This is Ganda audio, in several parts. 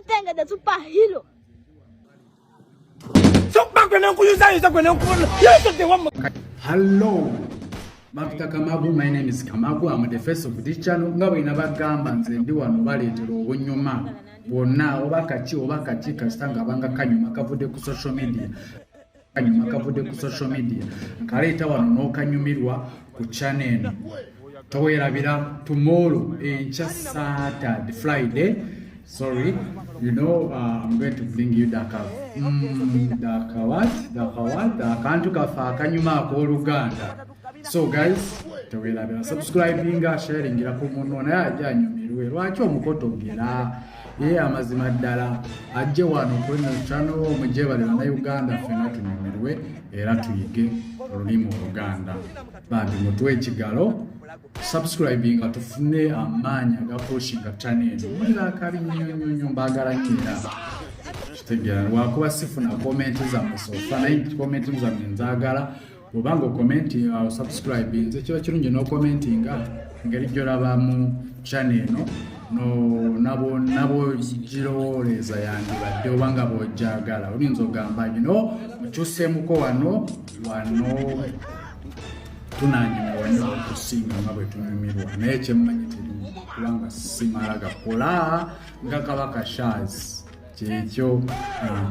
Tenga da super hero. So back when uncle user is when uncle. Yes, the one. Hello. Mafta Kamabu, my name is Kamabu. I'm the face of this channel. Nga bwe nabagamba nze ndi wano baleetera obunyuma bwonna oba kaki oba kaki kasita nga banga kanyuma kavudde ku social media kanyuma kavudde ku social media nkaleeta wano n'okanyumirwa ku chana eno towerabira tomorrow enkya satad friday sorry you know uh, i'm going to bring you daka mm, daka what daka what dakantu kafe akanyuma ak'oluganda so guys tewerabira subscribinga sharingira ku munno naye ajja anyumirwe lwaki omukotogera ye amazima ddala ajje wano kulino chano omujebale banauganda fena tunyumirwe era tuyige olulimi oluganda bambi mutwe ekigalo subscribinga tufune amaanyi agakushinga chanel mulira akabi nyonyonyo mbagala nyera kitegera lwakuba sifuna komenti zamusofa naye komenti zamwe nzagala bwobanga okomenti uh, osubscribe nze kiba kirungi nokomentinga ngeri gyolabamu chane eno nabogirowooleeza yandibadde obanga bwojagala oyinza ogamba gino mukyusemuko wano wano tunanyumirwa nyo okusinga nga bwetunyumirwa naye kyemmanyi telimu kubanga simala gakola nga kabaka shaz kyekyo uh,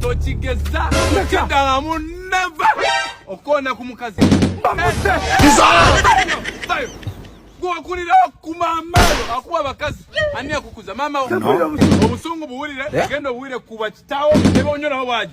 tokigeza kidala muneva okona ku mukazi gwokulira okuma amaalo akuba abakazi ani akukuza mama obusungu buwulire eh? genda obuwulire kuba kitawo neba onyo nawo bwaji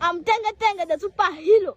Amtengetenge the super hero.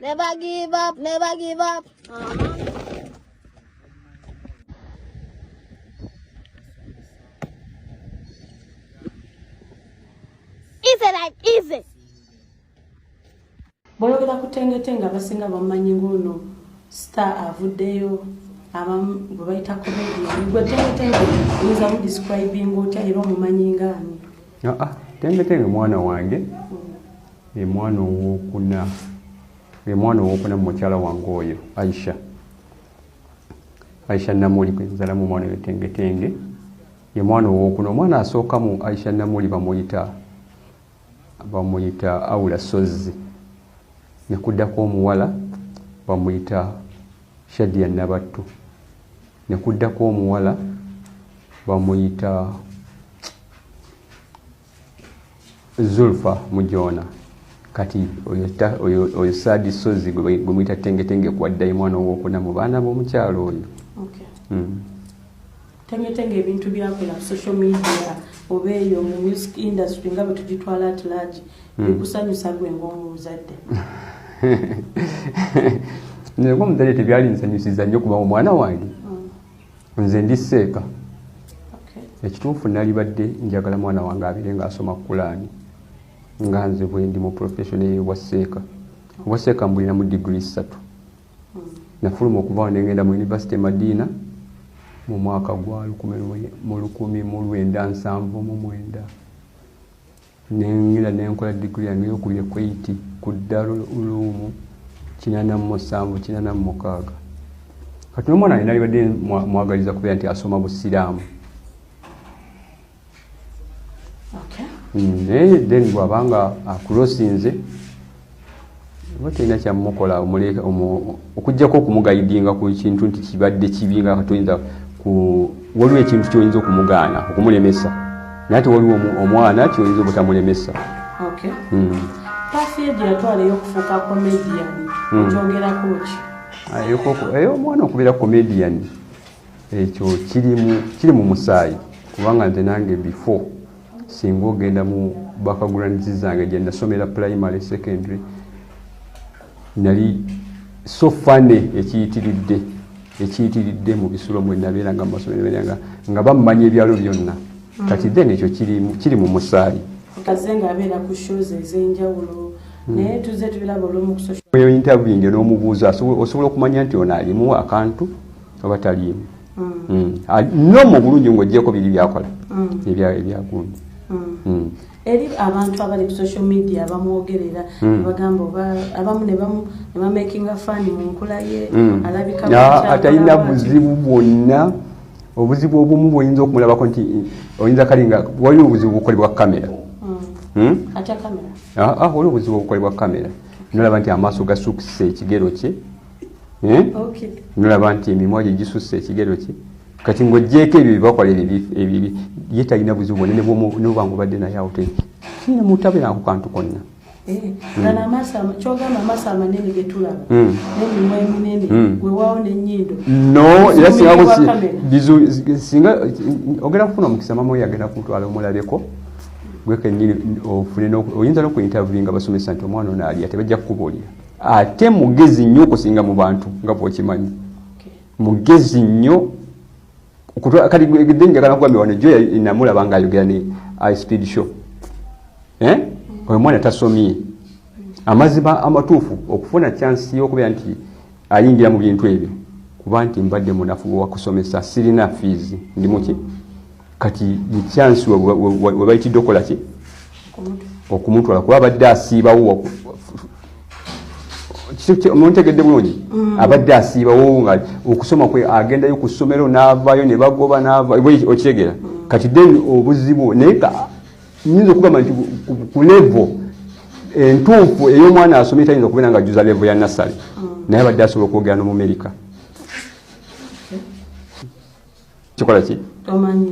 Never give up, never give up. Uh -huh. Easy like easy. Boyogera ku tengete nga basinga bamanyi ngono star avuddeyo abamu bwe bayita comedian gwe tengete nga oyinza mu describing otya era omumanyi ngaani aa tendekenge mwana wange ye mwana owokuna ye mwana owokuna mumukyala wange oyo aisha aisha namuli gwenzalamu omwana oyo tengetenge ye mwana owokuna omwana asookamu aisha namuli bamuyita bamuyita aula sozzi nekuddako omuwala bamuyita shadia nabattu ne kuddako omuwala bamuyita zulfa mujoona kati oyo saadi sozi gwemuyita tengetenge kwaddayo mwana owokuna mu baana b'omukyalo oyo hmm. tengetenge ebintu byakola social media oba eyo mu music industry nga bwetugitwala at large bikusanyusa gwe ngaomuzadde nze ngaomuzadde tebyali nsanyusiza nnyo kuba omwana wange mm. nze ndi seeka ekituufu nalibadde njagala mwana wange abire ngaasoma kulaani nga nze bwendi mu profession eyo bwa seeka obwa seeka mbulinamu digiri ssatu mm. nafuluma okuvaawo nengenda mu univesity e madiina mu mwaka gwa lukumi mu lukumi mu lwenda nsanvu mu mwenda nengenda nenkola digiri yange yokubye kweit ku darul ulumu kinana musanvu kinana mumukaaga kati nomwana ye nalibadde mwagaliza kubeera nti asoma busiraamu naye then bwabanga akulosinze oba tolina kyamukola omuleeka okujjako okumugayidinga ku kintu nti kibadde kibi nga katoyinza ku waliwo ekintu kyoyinza okumugaana okumulemesa naye ate waliwo omwana kyoyinza obutamulemesa eyo omwana okubeera comedian ekyo kiri mu musaayi kubanga nze nange before singa ogenda mu backgrounds zange gye nasomera primary secondary nali so fane ekiyitiridde ekiyitiridde mu bisulo mwe nabeera nga mumasomero nabeera nga nga bammanya ebyalo byonna hmm. kati then ekyo kiri mu musaayi oyo interviewinge n'omubuuza osobola okumanya nti ono alimu akantu oba taliimu no mu bulungi ng'ogyeko biri byakola ebyagundi eri abantu abali ku social media bamwogerera hmm. bagamba oba abamu nebamakinga fani mu nkula ye hmm. alabikaatalina buzibu bwonna obuzibu obumu bwoyinza okumulabako nti oyinza kali nga waliwo obuzibu bukolebwa kamera hmm. ah, ah, waliwo obuzibu obukolebwa kamera nolaba nti amaaso gasukisa ekigero kye eh? nolaba nti emimwa gye gisusse ekigero kye kati ng'ogyeko ebyo byebakola ebibi ye talina buzibu bwona noba ngobadde naye awo kina mutabeerako kantu konna eh, singa ogenda kufuna omukisa mama oyo agenda kumutwala omulabeko gwekenyini ofune oyinza nokuintervie nga basomesa nti omwana ono alya tebajja kukubuulira ate mugezi nnyo okusinga mu bantu nga bwokimanyi mugezi nnyo kati gde njagala kugambye wano jo namulaba nga ayogera ne i speed show eh? oyo mwana tasomye amazima amatuufu okufuna chansi yokubeera nti ayingira mu bintu ebyo kuba nti mbadde munafu wakusomesa sirina fiizi ndimuki kati mukyansi webayitidde okukola ki okumutwala kuba abadde asiibawo muntegedde bulungi mm. abadde asiibawo nga okusoma kwe agendayo ku ssomero n'avaayo ne bagoba n'avaokitegera mm. kati then obuzibu naye nyinza okugamba nti ku levo entuufu ey'omwana asomye tayinza okubeera nga juza levo ya nassale mm. naye abadde asobola okwogera nomumerika kikola ki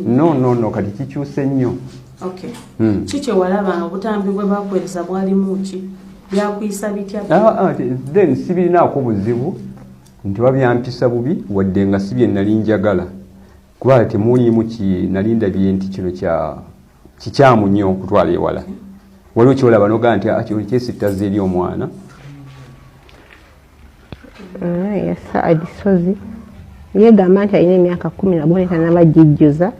no no no kati kikyuse nnyo okay hmm. ki kyewalaba nga obutambi bwe bakuwereza bwalimu ki byakuyisa bitya ah, ah, then sibirinaako buzibu nti babyampisa bubi wadde nga si bye nali njagala kuba temuliimu ki nali ndabye nti kino kya kikyamu nnyo okutwala ewala waliwo kyolaba nogaa nti ah, kino kyesittaza eri omwana ah, ya saadi sozi yegamba nti alina emyaka kumi naboneka nabajijjuza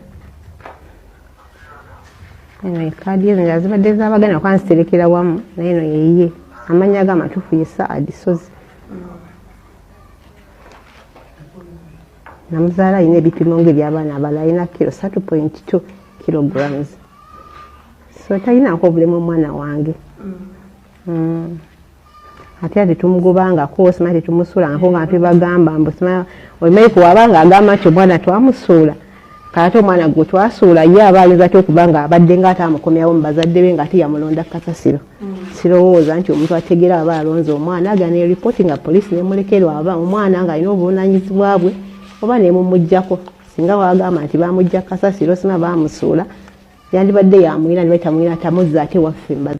kaadi ezo nga zibadde zabagana kuba nziterekera wamu naye no yeye amanya ga amatuufu ye saadi sozi namuzaala alina ebipimo nga ebyabaana abala alina kiro satu point two kilograms so talinako obulemu omwana wange mm. mm. ate ati tumugobangako osima tetumusuulangako nga tebagamba mbu sima olimaiku waba nga agamba nti omwana twamusuula kaate omwana gwe twasuula ye aba ayinza ty okuba nga abadde nga ate amukomyawo mu bazadde be nga ate yamulonda kasasiro mm. sirowooza nti omuntu ategera aba alonze omwana aga ne ripooti nga poliisi nemulekerwa aba omwana nga alina obuvunanyizibwa bwe oba nemumugjako singa wagamba nti bamugja kasasiro sima bamusuula yandibadde yamwina nibatamwina tamuzza ate waffe mbaza